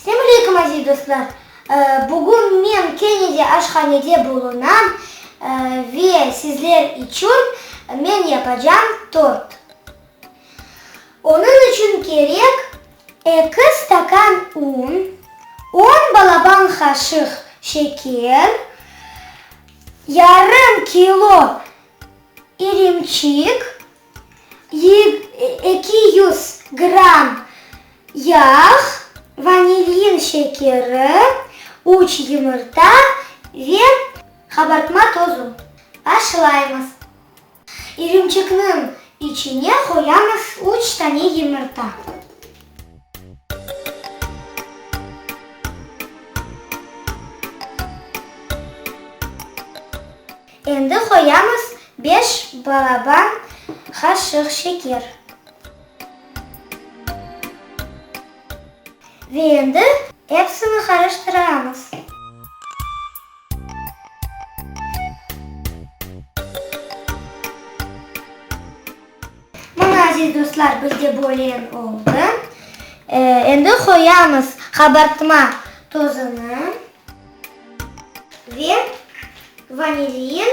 Selam aleyküm aziz dostlar. Bugün men kene de aşhanede bulunam ve sizler içün men yapacağım tort. Onıñ içün kerek, eki stakan un, on balaban qaşıq şeker, yarım kilo irimçik, eki yüz gramm yağ, vanilyin şekeri, üç yumurta ve qabartma tozu. Başlaymız. İrimçikniñ içine qoyamız üç tane yımırta. Endi qoyamız beş balaban qaşıq şeker. Ve endi epsini qarıştıramız. Mana, aziz dostlar, bizde bölen oldı. Endi qoyamız qabartma tozunı ve vanilin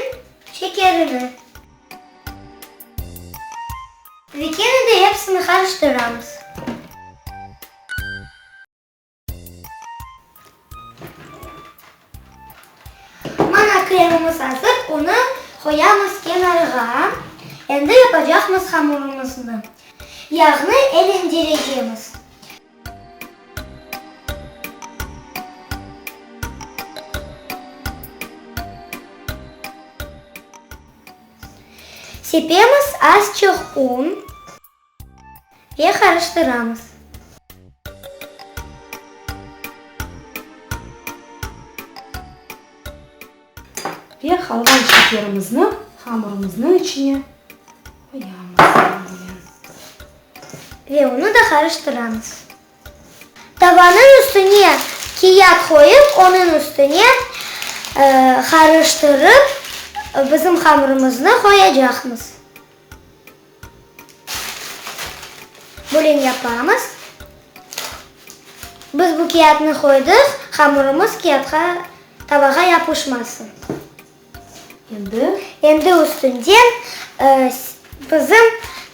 şekerini. Ve kene de epsini qarıştıramız. Mana kremimiz azır, onı qoyamız kenarğa. Endi yapacaqmız hamurımıznı. Yağnı elendirecemiz. Sepemiz azçıq un. Ye qarıştıramız. Ve qalğan şekerimizni hamurımıznıñ içine quyamız. Ve onı da qarıştıramız. Tavanıñ üstüne kiyat qoyıp, onıñ üstüne qarıştırıp bizim hamurımıznı qoyacaqmız. Bulen yapamız. Biz bu kâğıtnı qoydıq, hamurımız kâğıtqa, tavağa yapışmasın. Endi? Endi üstünden bizim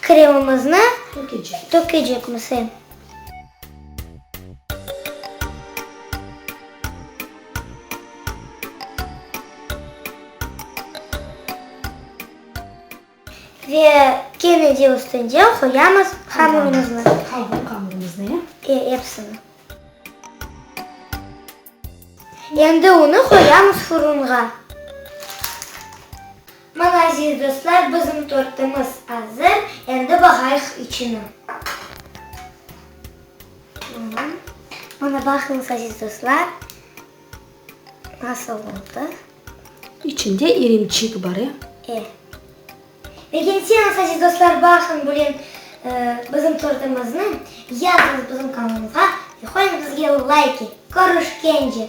kremımıznı tökecekmiz. Ve kene de üstünde qoyamız hamurımıznı. Qalğan hamurımıznı, ya? E, epsini. Endi unı qoyamız furunğa. Mana, aziz dostlar, bizim tortımız azır, endi bağayıq içini. Mana, baqıñız, aziz dostlar, nasıl oldı. İçinde irimçik bar, e? E. Lâkin siz, aziz dostlar, baqıñ bugün bizim tortımıznı, yazıñız bizim kanalımızğa ve qoyuñ bizge layki. Körüşkence!